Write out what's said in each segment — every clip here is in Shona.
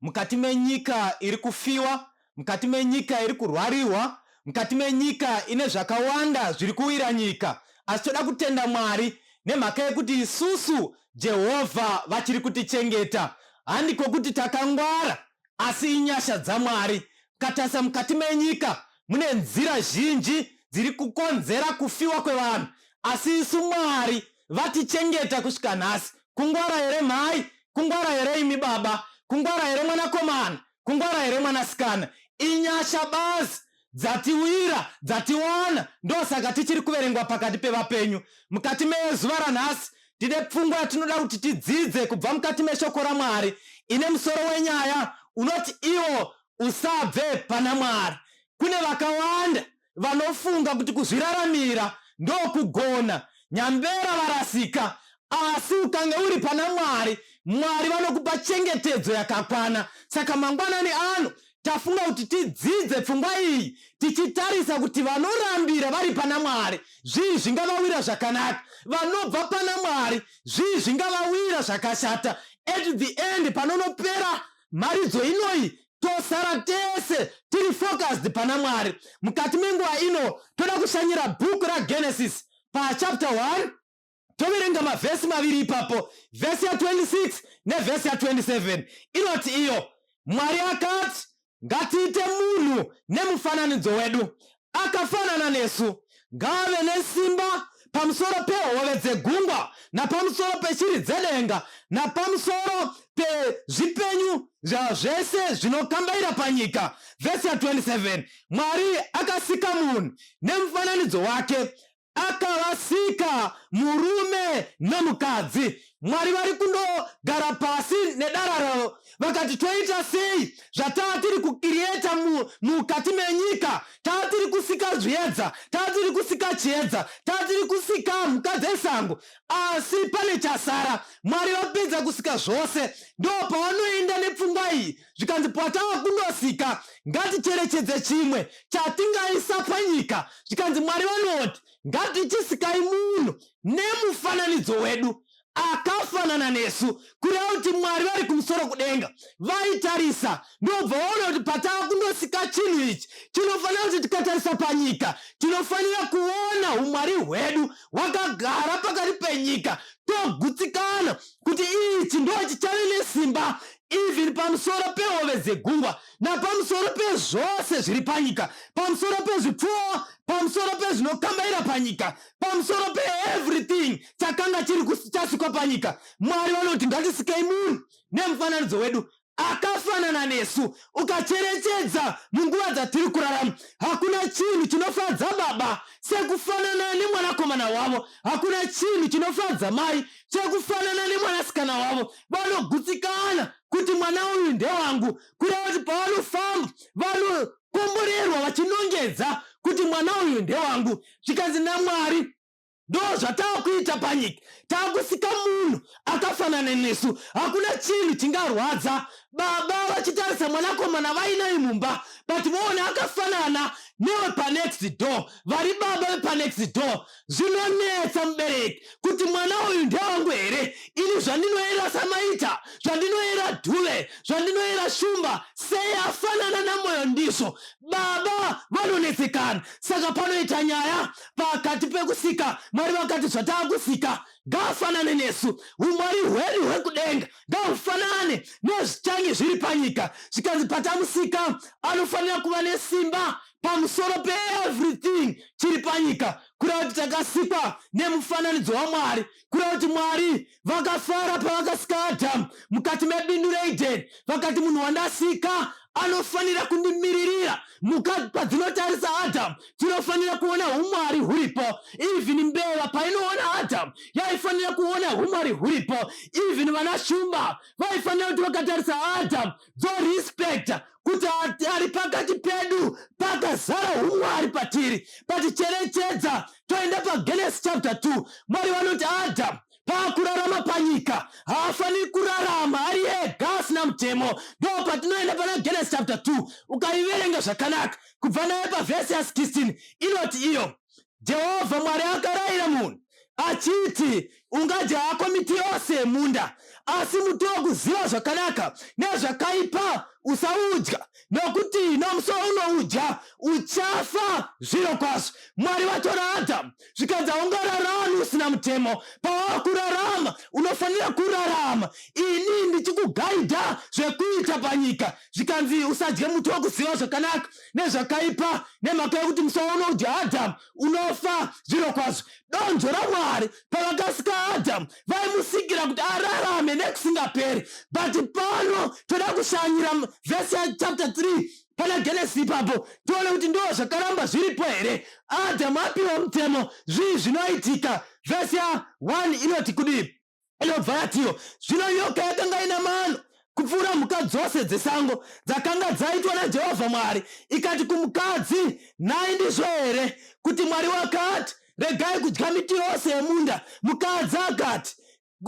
mukati menyika iri kufiwa, mukati menyika iri kurwarirwa, mukati menyika ine zvakawanda zviri kuwira nyika. Asi toda kutenda Mwari nemhaka yekuti isusu Jehovha vachiri kutichengeta. Handiko kuti takangwara, asi inyasha dzaMwari. Katarisa mukati menyika, mune nzira zhinji dziri kukonzera kufiwa kwevanhu, asi isu Mwari vatichengeta kusvika nhasi. Kungwara here mhai? Kungwara here imi baba? Kungwara here mwanakomana? Kungwara here mwanasikana? Inyasha bazi dzatiwira dzatiwana ndosaka tichiri kuverengwa pakati pevapenyu mukati mezuva ranhasi tine pfungwa yatinoda kuti tidzidze kubva mukati meshoko ramwari ine musoro wenyaya unoti iwo usabve pana mwari kune vakawanda vanofunga kuti kuzviraramira ndokugona nyambera varasika asi ukange uri pana mwari mwari vanokupa chengetedzo yakakwana saka mangwanani ano tafunga kuti tidzidze pfungwa iyi tichitarisa kuti vanorambira vari pana mwari zvii zvingavawira zvakanaka vanobva pana mwari zvii zvingavawira zvakashata at the end panonopera mharidzo inoyi tosara tese tiri focused pana mwari mukati menguva ino toda kushanyira bhuku ragenesis pachapter 1 toverenga mavhesi maviri ipapo vhesi ya26 nevhesi ya27 inoti iyo mwari akati ngatiite munhu nemufananidzo wedu akafanana nesu ngaave nesimba pamusoro pehove dzegungwa napamusoro peshiri dzedenga napamusoro pezvipenyu zvazvese zvinokambaira panyika vhesi ya27 mwari akasika munhu nemufananidzo wake akavasika murume nemukadzi mwari vari kundogara pasi nedara ravo vakati toita sei zvataa tiri kukiriyeta mukati mu, menyika taa tiri kusika zviedza taa tiri kusika chiedza taa tiri kusika mhuka dzesango asi pane chasara mwari vapedza kusika zvose ndo pavanoenda nepfungwa iyi zvikanzi patava kundosvika ngaticherechedze chimwe chatingaisa panyika zvikanzi mwari vanoti ngatichisikai munhu nemufananidzo wedu akafanana nesu kureva kuti mwari vari kumusoro kudenga vaitarisa ndobva vaona kuti patava kundosika chinhu ichi tinofanira kuti tikatarisa panyika tinofanira kuona umwari hwedu hwakagara pakati penyika togutsikana kuti ichi ndo chichave nesimba even pamusoro pehove dzegungwa napamusoro pezvose zviri panyika pamusoro pezvipfuwo pamusoro pezvinokambaira panyika pamusoro peeverything chakanga chiri chasikwa panyika mwari vanoti ngatisikei munhu nemufananidzo wedu akafanana nesu ukacherechedza munguva dzatiri kurarama hakuna chinhu chinofadza baba sekufanana nemwanakomana wavo hakuna chinhu chinofadza mai sekufanana nemwanasikana wavo vanogutsikana kuti mwana uyu ndewangu kureva kuti pavanofamba vanokomborerwa vachinongedza kuti mwana uyu ndewangu zvikanzi namwari ndo zvatakuita panyika takusika munhu akafanana nesu hakuna chinhu chingarwadza baba vachitarisa mwanakomana vainai mumba but voona akafanana newepanext door vari baba vepanext door Zvinonetsa mubereki kuti mwana uyu ndewangu here ini zvandinoera samaita zvandinoera dhuve zvandinoera shumba sei afanana namoyo ndizvo baba vanonetsekana saka panoita nyaya pakati pekusika mwari vakati zvataakusika ngaafanane nesu umwari hwedu hwekudenga ngaufanane nezvichange zviri panyika zvikanzi patamusika anofanira kuva nesimba pamusoro peeverything chiri panyika kureva kuti takasikwa nemufananidzo wamwari kureva kuti mwari vakafara pavakasika adhamu mukati mebindu reidheni vakati munhu wandasika anofanira kundimiririra mhuka padzinotarisa adhamu dzinofanira kuona umwari huripo even mbeva painoona adhamu yaifanira kuona umwari huripo even vana shumba vaifanira kuti vakatarisa adhamu dzorespecta kuti ari pakati pedu pakazara umwari patiri paticherechedza toenda pagenes chapter 2 mwari vanoti adam paakurarama panyika haafaniri kurarama ari ega asina mutemo ndo patinoenda pana genes chapter 2 ukaiverenga zvakanaka kubva naye pavhesi ya 16 inoti iyo Jehovha Mwari akarayira munhu achiti, Ungadya hako miti yose yemunda, asi muti wokuziva zvakanaka nezvakaipa usaudya, nokuti nomusi waunoudya uchafa zviro kwazvo. Mwari vatora Adhamu zvikanzi, Haungararami usina mutemo. Pawava kurarama, unofanira kurarama ini ndichikugaidha zvekuita panyika. Zvikanzi, Usadye muti wokuziva zvakanaka nezvakaipa nemhaka yokuti musi waunodya adhamu unofa zviro kwazvo donzvo ramwari pavakasika adhamu vaimusikira kuti ararame nekusingaperi but pano toda kushanyira vhesi yachapter 3 pana genesi ipapo tione kuti ndo zvakaramba zviripo here adhamu apiwa mutemo zvii zvinoitika vhesi ya 1 inoti kudii inobva yatiwo zvino nyoka yakanga ina mano kupfuura mhuka dzose dzesango dzakanga dzaitwa najehovha mwari ikati kumukadzi nhai ndizvo here kuti mwari wakati regai kudya miti yose yemunda mukadzi akati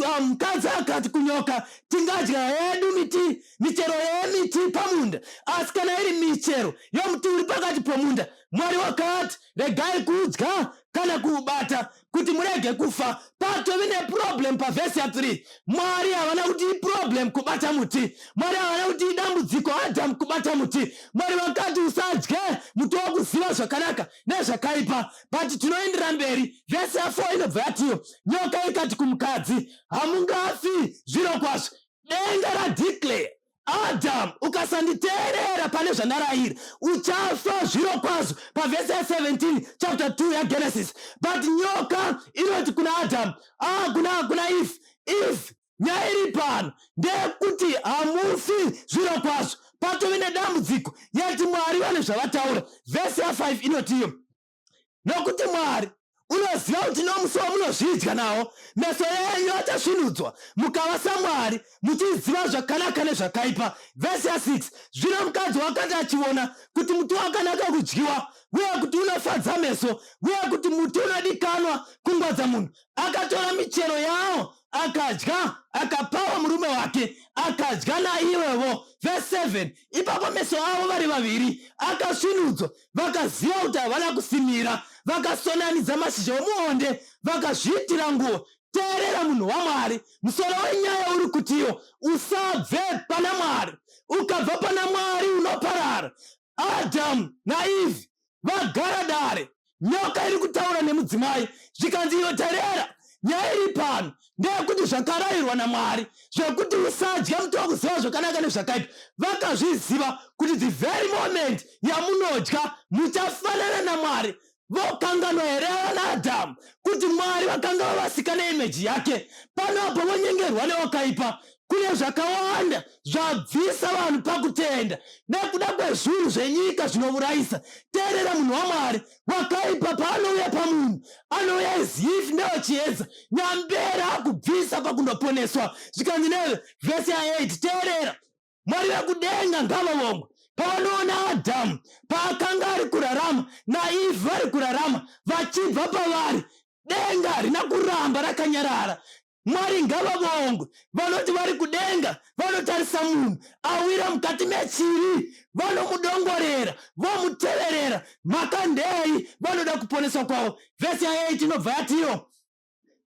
ah, mukadzi akati kunyoka tingadya hedu miti michero yemiti pamunda asi kana iri michero yomuti uri pakati pomunda mwari wakati regai kudya kana kuubata kuti murege kufa patovi neproblem pavhesi ya3 mwari havana kuti iproblem kubata muti mwari havana kuti idambudziko adamu kubata muti mwari vakati usadye muti wakuziva zvakanaka nezvakaipa but tinoendera mberi vhesi ya4 inobva yatiyo nyoka ikati kumukadzi hamungafi zviro kwazvo denga radeclare Adam, ukasanditeerera pane zvandarayira uchafa zviro kwazvo pavhesi ya 17 chapter 2 yagenesis but nyoka inoti kuna adam ah, kuna kuna if if nyaya iri pano ndeyekuti hamufi zviro kwazvo patove nedambudziko yati mwari vane zvavataura vhesi ya 5 inotiyo nokuti mwari unoziva kuti nomusi wamunozvidya nawo meso enyu achasvinudzwa mukava samwari muchiziva zvakanaka nezvakaipa vhesi ya6 zvino mukadzi wakati achiona kuti muti wakanaka kudyiwa uye kuti unofadza meso uye kuti muti unodikanwa kungwadza munhu akatora michero yawo akadya akapawa murume wake akadya naiwevo vhesi 7 ipapo meso avo vari vaviri akasvinudzwa vakaziva kuti havana kusimira vakasonanidza mashizha omuonde vakazviitira nguva teerera munhu wamwari musoro wenyaya uri kutiwo usabve pana mwari ukabva pana mwari unoparara adhamu naivhi vagara dare nyoka iri kutaura nemudzimai zvikanzi iyo terera nyaya iri pano ndeyekuti zvakarayirwa namwari zvekuti usadye muti wakuziva zvakanaka nezvakaipa vakazviziva kuti the very moment yamunodya muchafanana namwari vokanganwa here vana adhamu kuti mwari vakanga vavasika neimeji yake pano apo vonyengerwa newakaipa kune zvakawanda zvabvisa vanhu pakutenda nekuda kwezvinhu zvenyika zvinovurayisa teerera munhu wamwari wakaipa paanouya pamunhu anouya as if ndewechiedza nyambera akubvisa pakundoponeswa zvikanzi neve vhesi ya8 teerera mwari vekudenga ngavavongwe pavanoona adhamu paakanga ari kurarama naivi vari kurarama vachibva pavari denga rina kuramba rakanyarara Mwari ngavavongwe. Vanoti vari kudenga vanotarisa munhu awira mukati mechiri, vanomudongorera, vomuteverera. Mhaka ndei? Vanoda kuponeswa kwavo. Vhesi ya8 inobva yatiwo,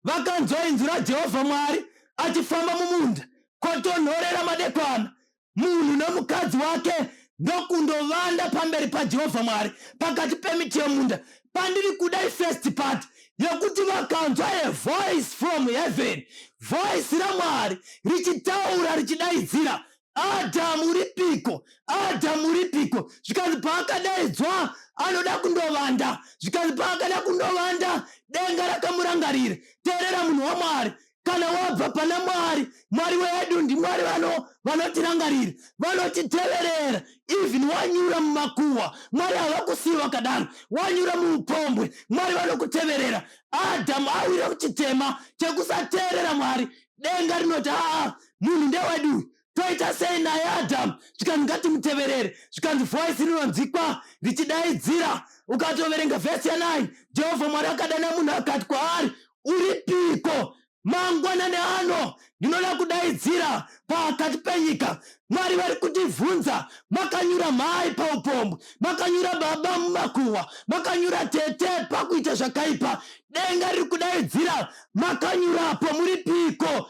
Vakanzwa inzwi raJehovha Mwari achifamba mumunda, kwatonhorera madekwana. munhu nomukadzi wake ndokundovanda pamberi pajehovha mwari pakati pemiti yomunda pandiri kuda ifirst part yekuti vakanzwa a voice from heaven voice ramwari richitaura richidaidzira adhamu ripiko adhamu ripiko zvikanzi paakadaidzwa anoda kundovanda zvikanzi paakada kundovanda denga rakamurangarira teerera munhu wamwari kana wabva pana mwari mwari wedu ndimwari vano vanotirangarira vanotiteverera even wanyura mumakuwa mwari havakusiyi vakadaro wanyura muupombwe mwari vanokuteverera adhamu awira kuchitema chekusateerera mwari denga rinoti aa munhu ndewedu toita sei naye adhamu zvikanzi ngatimuteverere zvikanzi voisi rinonzikwa richidaidzira ukatoverenga vhesi ya9 jehovha mwari akadana munhu akati kwaari uripiko mangwanani ano ndinoda kudaidzira pakati penyika mwari vari kutibvunza makanyura mhai paupombwe makanyura baba mumakuhwa makanyura tete pakuita zvakaipa denga riri kudaidzira makanyurapo muri piko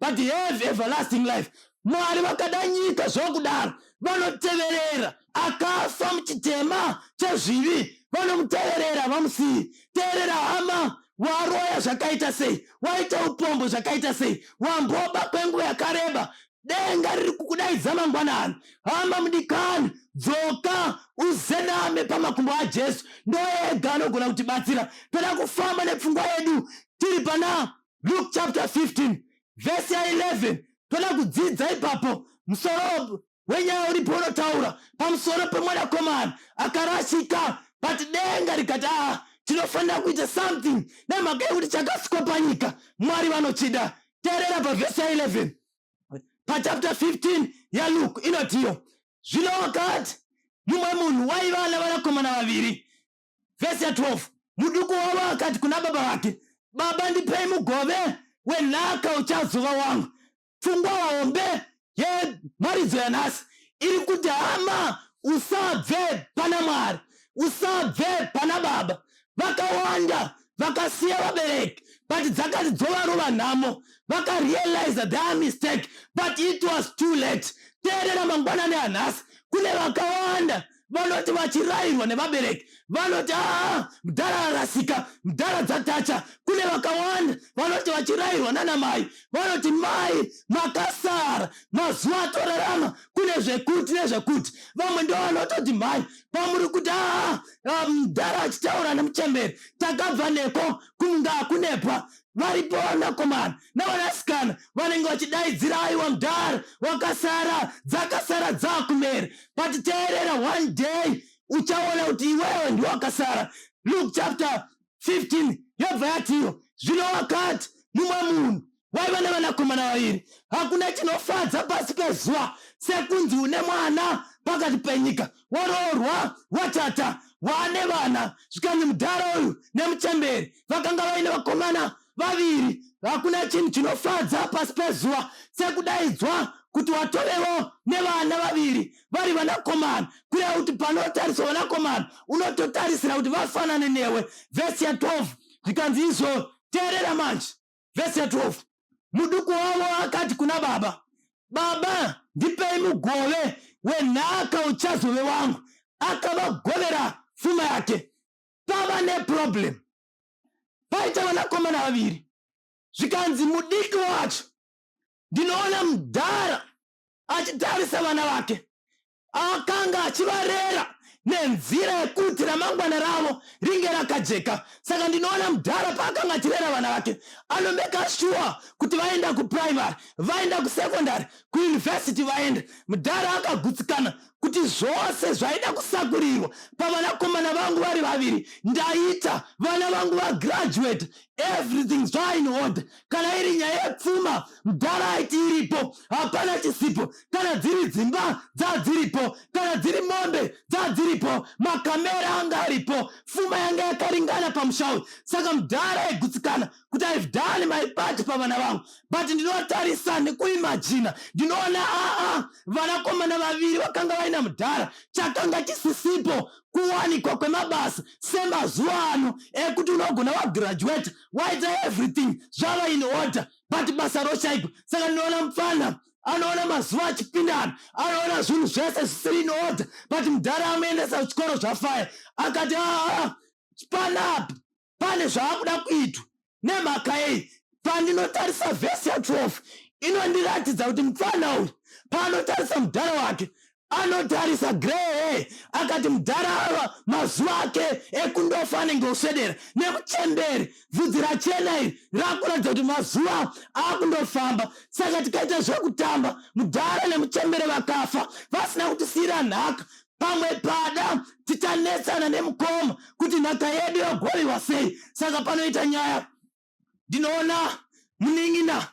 but have everlasting life mwari vakada nyika zvokudaro vanoteverera akafa muchitema chezvivi vanomuteverera vamusiyi teerera hama waroya zvakaita sei waita upombo zvakaita sei wamboba kwenguva yakareba denga riri kukudaidza mangwanani hama mudikani dzoka uzename pamakumbo ajesu ndoega anogona kutibatsira toda kufamba nepfungwa yedu tiri pana Luke chapter 15 verse ya 11 toda kudzidza ipapo musoro wenyaya uripo unotaura pamusoro pemwanakomana akarashika but denga rikati aa ah, tinofanira kuita something nemhaka yekuti chakasikwa panyika mwari vanochida teerera pavhesi ya 11 pachapter 15 yaluke inotiyo zvino wakati mumwe munhu waiva navanakomana vaviri vhesi ya 12 muduku wavo akati kuna baba vake baba ndipei mugove wenhaka uchazova wangu pfungwa hombe yemharidzo yanhasi iri kuti hama usabve pana mwari usabve pana baba vakawanda vakasiya vabereki but dzakati dzovarova nhamo vakarealiza their mistake but it was too late teerera mangwanani anhasi kune vakawanda vanoti vachirairwa nevabereki vanoti aa mdhara arasika mdhara dzatacha kune vakawanda vanoti vachirairwa nana mai vanoti mai makasara mazuva atorarama kune zvekuti nezvekuti vamwe ndo vanototi mhai pamuri kuti aa mdhara achitaura nemuchemberi takabva neko kunga kunepwa varipo vanakomana navanasikana vanenge vachidaidzira aiwa mdara wakasara dzakasara dzakumera but teerera one day uchaona kuti iwewe ndiwakasara luke chapter 15 yobva yatiwo zvino wakati mumwe munhu waiva nevanakomana vaviri hakuna chinofadza pasi pezuva sekunzi une mwana pakati penyika woroorwa watata waane vana zvikanzi mudhara uyu nemuchemberi vakanga vaine vakomana vaviri hakuna chinhu chinofadza pasi pezuva sekudaidzwa kuti watorewo nevana vaviri vari vanakomana kureva kuti panotariswa vanakomana unototarisira kuti vafanane newe vhesi ya 12 zvikanzi izvo teerera manje vhesi ya 12 muduku wavo akati kuna baba baba ndipei mugove wenhaka uchazove wangu akavagovera pfuma yake pava neproblem paita vanakomana vaviri zvikanzi mudiki wacho ndinoona mudhara achitarisa vana vake akanga achivarera nenzira yekuti ramangwana ravo ringe rakajeka saka ndinoona mudhara paakanga achirera vana vake anomeka shuwa kuti vaenda kuprimary vaenda kusecondary kuuniversity vaenda mudhara akagutsikana kuti zvose zvaida kusakurirwa pavanakomana vangu vari vaviri ndaita vana vangu vagraduate everything zvain order kana iri nyaya yepfuma mdhara aiti iripo hapana chisipo kana dziri dzimba dzadziripo kana dziri mombe dzadziripo makamera anga aripo pfuma yanga yakaringana pamusha uyu saka mdhara aigutsikana kuti ive done my part pavana vangu but ndinotarisa nekuimajina ndinoona aa vanakomana vaviri vakanga vaina mdhara chakanga chisisipo kuwanikwa kwemabasa semazuva ano ekuti unogona wagraduate waita everything zvava in order but basa roshaipa saka ndinoona mupfana anoona mazuva achipindana anoona zvinhu zvese zvisiri in order but mudhara amuendesa kuchikoro zvafaya akati aa panapa pane zvaakuda kuitwa nemhaka yei pandinotarisa vhesi ya 12 inondiratidza kuti mupfana uyu paanotarisa mudhara wake anotarisa Grey akati mudhara ava mazuva ake ekundofa anenge osvedera nemuchemberi vhudzi rachena iri rakuratidza kuti mazuva akundofamba saka tikaita zvekutamba mudhara nemuchembere vakafa vasina kutisiyira nhaka pamwe pada tichanetsana nemukoma kuti nhaka yedu yogoviwa sei saka panoita nyaya ndinoona munin'ina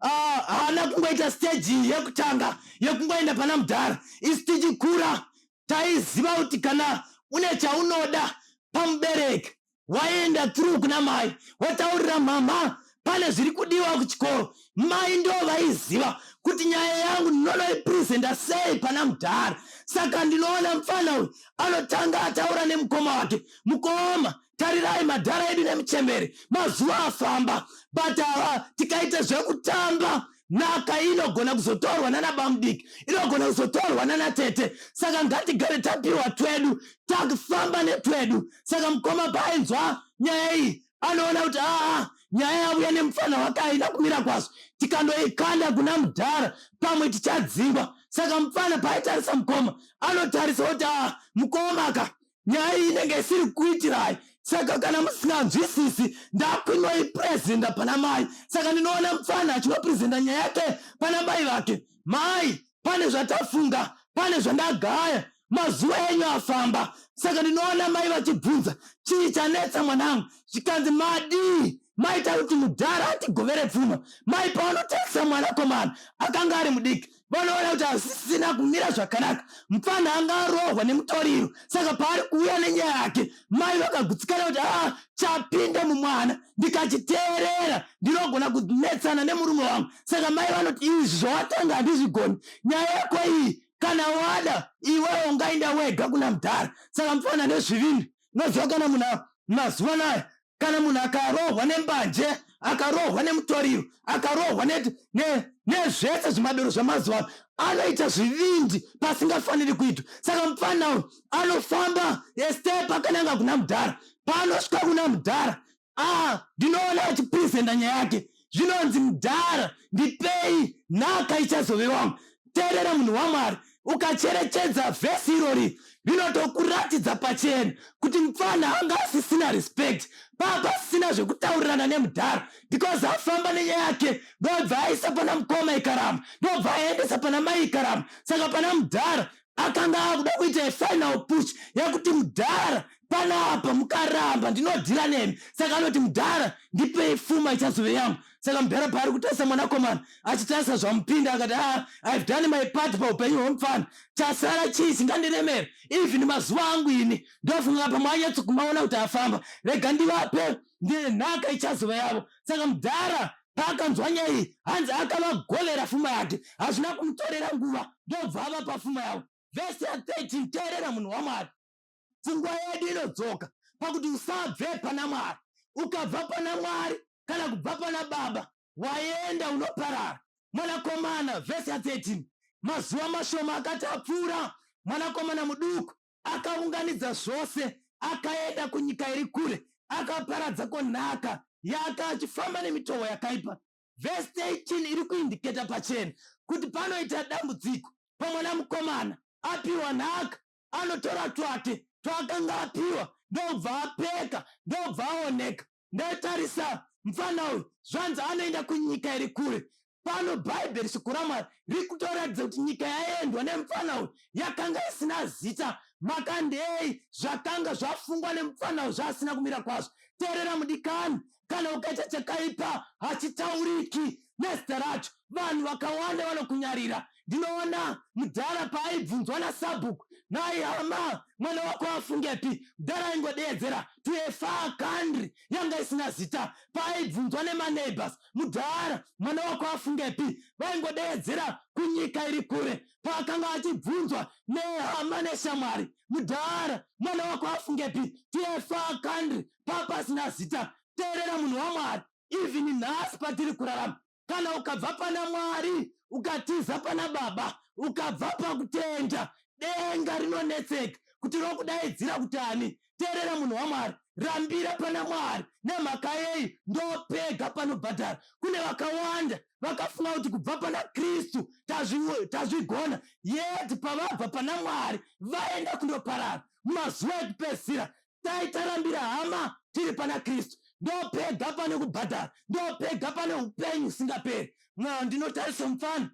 ah, haana uh, kungoita stage yekutanga yekungoenda pana mudhara isi tichikura taiziva kuti kana une chaunoda pamubereki waienda through kuna mai wotaurira mhamha pane zviri kudiwa kuchikoro mai ndo vaiziva kuti nyaya yangu ndinonoipresenta sei pana mudhara saka ndinoona mufana uyu anotanga ataura nemukoma wake mukoma tarirai madhara edu nemuchembere mazuva afamba but ava tikaita zvekutamba nhaka inogona kuzotorwa nana bamudiki inogona kuzotorwa nana tete saka ngatigare tapiwa twedu takufamba netwedu saka mukoma paainzwa nyaya iyi anoona kuti aa nyaya yavuya nemufana wake aina kumira kwazo tikandoikanda kuna mudhara pamwe tichadzingwa saka mufana paaitarisa mukoma anotarisa kuti aa mukomaka nyaya iyi inenge isiri kuitirai saka kana musina nzwisisi ndakwinoi presenta pana mai saka ndinoona mupfana achinopresenta nyaya yake pana mai vake mai pane zvatafunga pane zvandagaya mazuva enyu afamba saka ndinoona mai vachibvunza chii chanetsa mwanangu zvikanzi madii maita kuti mudhara atigovere pfuma mai paanotarisa mwanakomana akanga ari mudiki vanoona kuti hazvisina kumira zvakanaka mupfanha anga arohwa nemutoriro saka paari kuuya nenyaya yake mai vakagutsikana kuti aa chapinde mumwana ndikachiteerera ndinogona kunetsana nemurume wangu saka mai vanoti izvi zvawatanga handizvigoni nyaya yako iyi kana wada iwewo ungainda wega kuna mudhara saka mupfanha nezvivindi noziva kana munhu mazuva nayo kana munhu akarohwa nembanje akarohwa nemutoriro akarohwa nezvese ne, zvimadoro zvamazuva ano anoita zvivindi pasingafaniri kuitwa saka mupfana uyu anofamba estepa akananga kuna mudhara paanosvika kuna mudhara ah, ndinoona achipresenta nyaya yake zvinonzi mudhara ndipei nhaka ichazove wangu teerera munhu wamwari ukacherechedza vhesi irori rinotokuratidza pachena kuti mupfana anga asisina respect papa asisina zvekutaurirana nemudhara because afamba nenyaya yake ndobva aisa pana mukoma ikaramba ndobva aendesa pana mai ikaramba saka pana mudhara akanga akuda kuita yefinal push yekuti mudhara panapa mukaramba ndinodhira nemi saka anoti mudhara ndipei fuma ichazove yangu saka mudhara paari kutarisa mwanakomana achitarisa zvamupinda akati a ah, ive done my part paupenyu hwemupfana chasara chii chingandiremera even mazuva angu ini ndofunga pamwe anyatsokumaona kuti afamba rega ndivape ndine nhaka ichazova yavo saka mudhara Paakanzwa nyaya iyi, hanzi akavagovera fuma yake. Hazvina kumutorera nguva ndobva avapa fuma yavo. Vhesi ya 13, Teerera munhu waMwari. Pfungwa yedu inodzoka pakuti usabve pana Mwari. Ukabva pana Mwari kana kubva pana Baba, waenda unoparara. Mwanakomana, vhesi ya 13, mazuva mashoma akati apfuura, mwanakomana muduku Akaunganidza zvose, akaenda kunyika iri kure, akaparadza ko nhaka yaka achifamba nemitovo yakaipa. Vhesi 13 iri kuindiketa pachena kuti panoita dambudziko pamwana mukomana apiwa nhaka, anotora twake twaakanga apiwa ndobva apeka ndobva aoneka ndaitarisa mfana uyu zvanzi anoenda kunyika iri kure pano bhaibheri shoko ramwari riri kutoratidza kuti nyika yaendwa nemfana uyu yakanga isina zita makandei zvakanga zvafungwa nemfana uyu zvaasina kumira kwazvo teerera mudikani kana ukaita chakaipa hachitauriki nezita racho vanhu vakawanda vanokunyarira ndinoona mudhara paaibvunzwa nasabhuku nhai hama mwana wako afungepi mudhara aingodeedzera to a far country yanga isina zita paaibvunzwa nemaneighbors mudhara mwana wako afungepi vaingodeedzera kunyika iri kure paakanga achibvunzwa nehama neshamwari mudhara mwana wako afungepi to a far country papasina zita teerera munhu wamwari even nhasi patiri kurarama kana ukabva pana mwari ukatiza pana baba ukabva pakutenda denga rinonetseka kuti rokudaidzira kuti ani teerera munhu wamwari rambira pana mwari nemhaka yei ndopega panobhadhara kune vakawanda vakafunga kuti kubva pana kristu tazvigona yet pavabva pana mwari vaenda kundoparara mumazuva ekupedzisira dai tarambira hama tiri pana kristu ndopega pane kubhadhara ndopega pane upenyu usingaperi mwana ndinotarisa mufana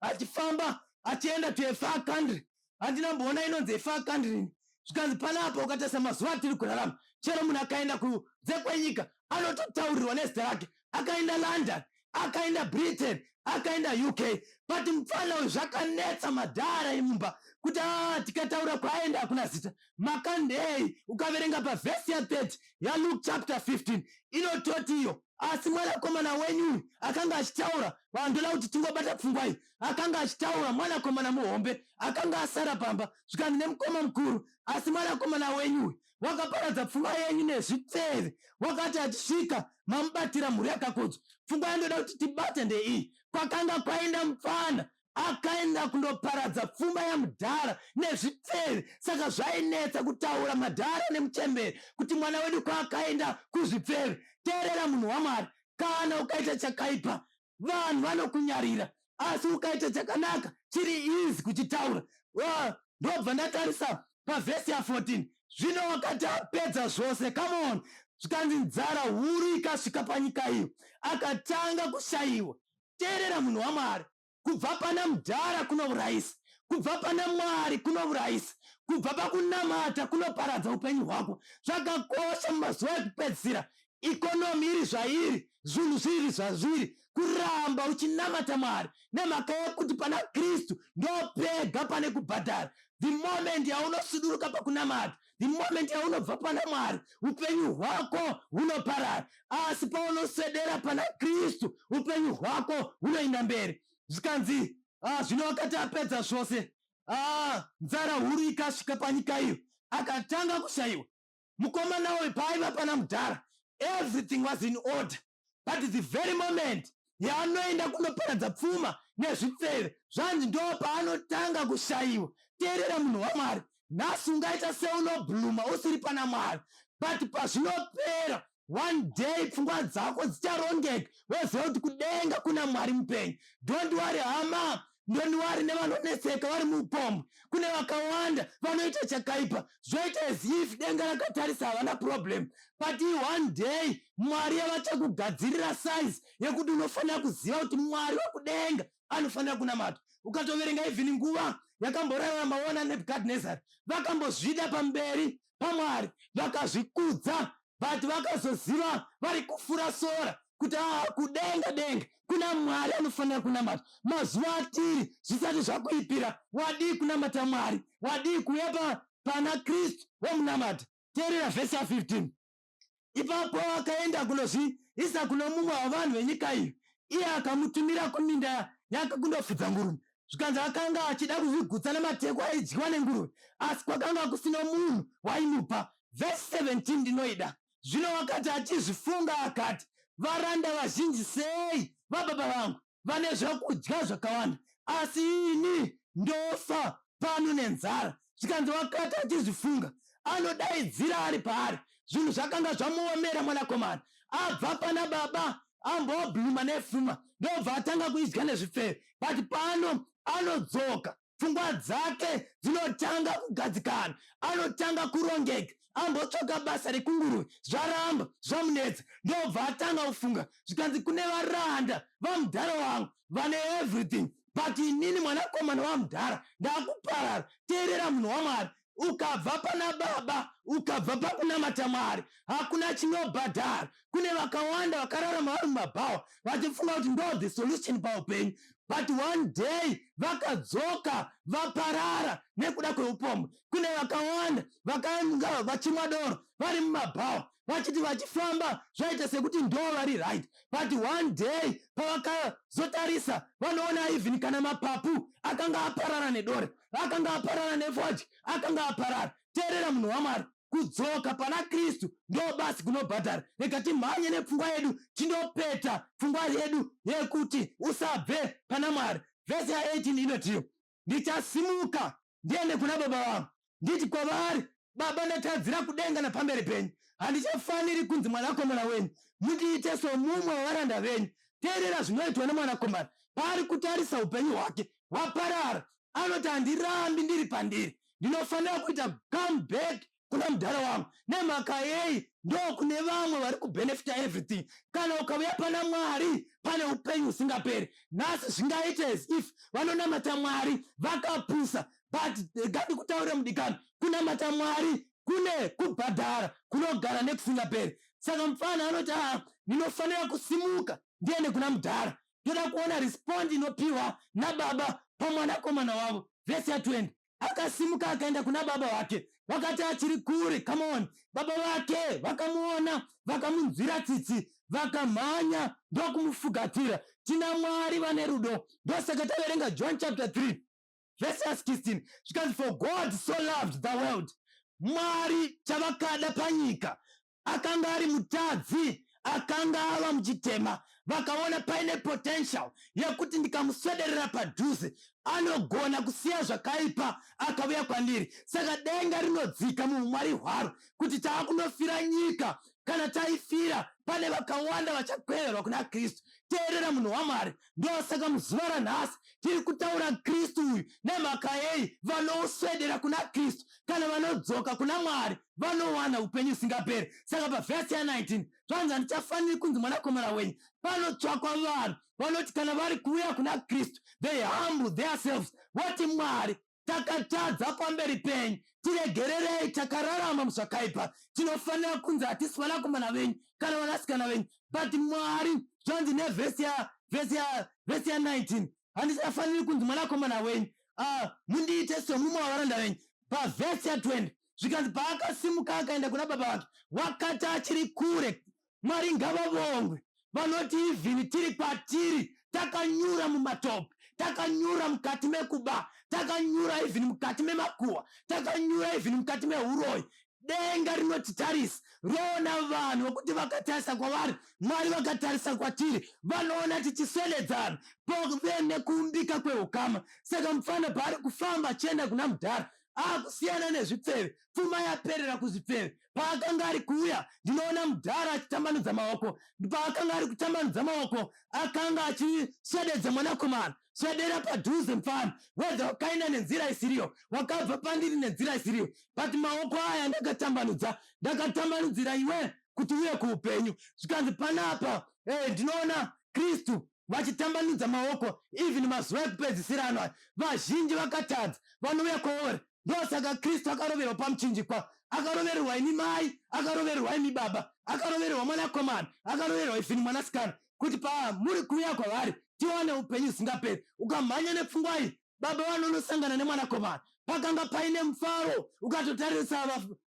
achifamba achienda to afar country handina mboona inonzi afar country ini zvikanzi panapa ukatarisa mazuva atiri kurarama chero munhu akaenda kunze kwenyika anototaurirwa nezita rake akaenda london akaenda britain akaenda uk but mupfana uyu zvakanetsa madhara imumba kuti a ah, tikataura kwaaenda hakuna zita makandei ukaverenga pavhesi ya 30 yaluke chapter 15 inototi iyo asi mwanakomana wenyu uyu akanga achitaura vandoda kuti tingobata pfungwai akanga achitaura mwanakomana muhombe akanga asara pamba zvikanzi nemukoma mukuru asi mwanakomana wenyu uyu wakaparadza pfuma yenyu nezvipfeve wakati achisvika mamubatira mhuri yakakodzwa pfungwa yandoda kuti tibate ndeiyi kwakanga kwaenda mupfana akaenda kundoparadza pfuma yamudhara nezvipfeve saka zvainetsa kutaura madhara nemuchembere kuti mwana wedu kwaakaenda kuzvipfeve teerera munhu wamwari kana ukaita chakaipa vanhu vanokunyarira asi ukaita chakanaka chiri easy kuchitaura Wa- ndobva ndatarisa pavhesi ya14 zvino wakati apedza zvose come on zvikanzi nzara huru ikasvika panyika iyo akatanga kushaiwa teerera munhu wamwari kubva pana mdhara kunourayisa kubva pana mwari kunourayisa kubva pakunamata kunoparadza upenyu hwako zvakakosha mumazuva ekupedzisira economy iri zvairi zvinhu zviri zvazviri kuramba uchinamata mwari nemhaka yekuti pana kristu ndopega pane kubhadhara the moment yaunosuduruka pakunamata the moment yaunobva pana mwari upenyu hwako hunoparara asi paunoswedera pana kristu upenyu hwako hunoenda mberi zvikanzi ah, zvino wakati apedza zvose ah, nzara huru ikasvika panyika iyo akatanga kushayiwa mukomana uyu paaiva pana mudhara everything was in order but the very moment yaanoenda kunoparadza pfuma nezvipfeve zvanzi ndo paanotanga kushayiwa teerera munhu wamwari nhasi ungaita seunobhluma usiri pana mwari but pazvinopera one day pfungwa dzako dzicharongeka woziva kuti kudenga kuna mwari mupenyu don't worry hama don't worry nevanonetseka vari muupombwe kune vakawanda vanoita chakaipa zvoita as if denga rakatarisa havana problem but one day mwari yavachakugadzirira size yekuti unofanira kuziva kuti mwari wekudenga anofanira kunamata ukatoverenga even nguva yakamborarama ona nebukadnezar vakambozvida pamberi pamwari vakazvikudza but vakazoziva vari kufura sora kuti aa ah, kudenga denga kuna mwari anofanira kunamata mazuva atiri zvisati zvakuipira wadii kunamata mwari wadii kuuya pana kristu wamunamata teerera vhesi ya 15 Ipapo akaenda kunozviisa kuno mumwe wavanhu venyika iyi, iye akamutumira kuminda yake kundofudza nguruve. Zvikanzi akanga achida kuzvigutsa namatekwa aidyiwa nenguruve, asi kwakanga kusino munhu waimupa. Vhesi 17 ndinoida. Zvino wakati achizvifunga, akati, Varanda vazhinji sei vababa vangu! vane zvekudya zvakawanda asi ini ndofa pano nenzara zvikanzi wakati achizvifunga anodaidzira ari paari zvinhu zvakanga zvamuomera mwanakomana abva pana baba ambobluma nefuma ndobva atanga kuidya nezvipfeve but pano anodzoka pfungwa dzake dzinotanga kugadzikana anotanga kurongeka ambotsvaka basa rekunguruve zvaramba zvamunetsa ndobva atanga kufunga zvikanzi kune varanda vamudhara wangu vane everything but inini mwanakomana wamudhara ndakuparara teerera munhu wamwari ukabva pana baba ukabva pakunamata mwari hakuna chinobhadhara kune vakawanda vakararama vari mumabhawa vachifunga kuti ndo the solution paupenyu but one day vakadzoka vaparara nekuda kweupombwe kune vakawanda vakanga vachimwa doro vari mumabhawa vachiti vachifamba zvaita sekuti ndo vari right but one day pavakazotarisa vanoona even kana mapapu akanga aparara nedore akanga aparana nefodya akanga aparara teerera munhu wamwari kudzoka pana kristu ndo basi kunobhadhara rega timhanye nepfungwa yedu tindopeta pfungwa yedu yekuti usabve pana mwari vhesi ya18 inotiyo ndichasimuka ndiende kuna baba vangu nditi kwavari Baba, ndatadzira kudenga napamberi penyu. Handichafaniri kunzi mwanakomana wenyu. Mundiite somumwe wevaranda venyu. Teerera zvinoitwa nemwanakomana paari kutarisa upenyu hwake hwaparara. Anoti handirambi ndiri pandiri. Ndinofanira kuita come back kuna mudhara wangu. Nemhaka yei? Ndo kune vamwe vari kubenefita everything. Kana ukauya pana Mwari pane upenyu husingaperi. Nhasi zvingaite as if vanonamata Mwari vakapusa. but eh, ngandikutaurire mudikani kunamata mwari kune kubhadhara kunogara nekusingaperi saka mupfana anoti aa ah, ndinofanira kusimuka ndiende kuna mudhara ndoda kuona respond inopiwa nababa pamwanakomana wavo vhesi ya 20 akasimuka akaenda kuna baba vake vakati achiri kure kamon baba vake vakamuona vakamunzwira tsitsi vakamhanya ndokumufugatira tina mwari vane rudo ndosaka taverenga john chapter 3 vhesi ya 16 zvikanzi for god so loved the world mwari chavakada panyika akanga ari mutadzi akanga ava muchitema vakaona paine potential yekuti ndikamuswederera padhuze anogona kusiya zvakaipa akavuya kwandiri saka denga rinodzika muumwari hwaro kuti tava kunofira nyika kana taifira pane vakawanda vachakweverwa kuna kristu teerera munhu wamwari ndosaka muzuva ranhasi tiri kutaura kristu uyu nemhaka yei vanoswedera kuna kristu kana vanodzoka kuna mwari vanowana upenyu usingaperi saka pavhesi ya19 zvanzi handichafaniri kunzi mwanakomana wenyu panotsvakwa vanhu vanoti kana vari kuuya kuna kristu they humble theirselves vati mwari takatadza pamberi penyu tiregererei takararama muzvakaipa tinofanira kunzi hatisi vanakomana venyu kana vanasikana venyu but mwari zvanzi nevhesi ya vhesi ya vhesi ya 19 handisafaniri kunzi mwanakomana wenyu ah, mundiite somumwe wavaranda venyu pavhesi ya 20 zvikanzi paakasimuka akaenda kuna baba vake wakati achiri kure Mwari ngavavongwe vanoti ivhini tiri kwatiri takanyura mumatope takanyura mukati mekuba takanyura ivhini mukati memakuwa takanyura ivhini mukati meuroyi denga rinotitarisa roona vanhu vokuti vakatarisa kwavari mwari vakatarisa kwatiri vanoona tichiswededzana pove nekuumbika kweukama saka mupfana paari kufamba achienda kuna mudhara akusiyana nezvipfeve pfuma yaperera kuzvipfeve paakanga ari kuuya ndinoona mudhara achitambanudza maoko paakanga ari kutambanudza maoko akanga achisvededza mwanakomana svedera padhuze mfana wedza wakaenda nenzira isiriyo wakabva pandiri nenzira isiriyo but maoko aya ndakatambanudza ndakatambanudzira iwe kuti uye kuupenyu zvikanzi panapa hey, eh, ndinoona kristu vachitambanudza maoko even mazuva ekupedzisira ano aya vazhinji vakatadza vanouya kwaori ndosaka kristu akaroverwa pamuchinjikwa akarovererwa imi mai akarovererwa imi baba akarovererwa mwanakomana akarovererwa ifini mwanasikana kuti pamuri kuuya kwavari tiwane upenyu usingaperi ukamhanya nepfungwa iyi baba vanonosangana nemwanakomana pakanga paine mufaro ukatotarisa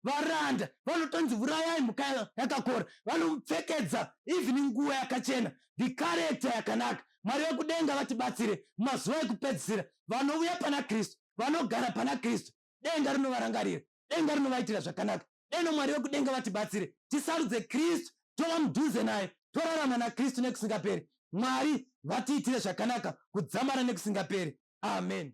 varanda vanotonzi vurayai mhuka yakakora vanomupfekedza even nguva yakachena the character yakanaka mwari vekudenga vatibatsire mazuva ekupedzisira vanouya pana kristu vanogara pana kristu denga rinovarangarira denga rinovaitira zvakanaka deno mwari vekudenga vatibatsire tisarudze kristu tova mudhuze naye torarama nakristu nekusingaperi mwari vatiitire zvakanaka kudzamara nekusingaperi amen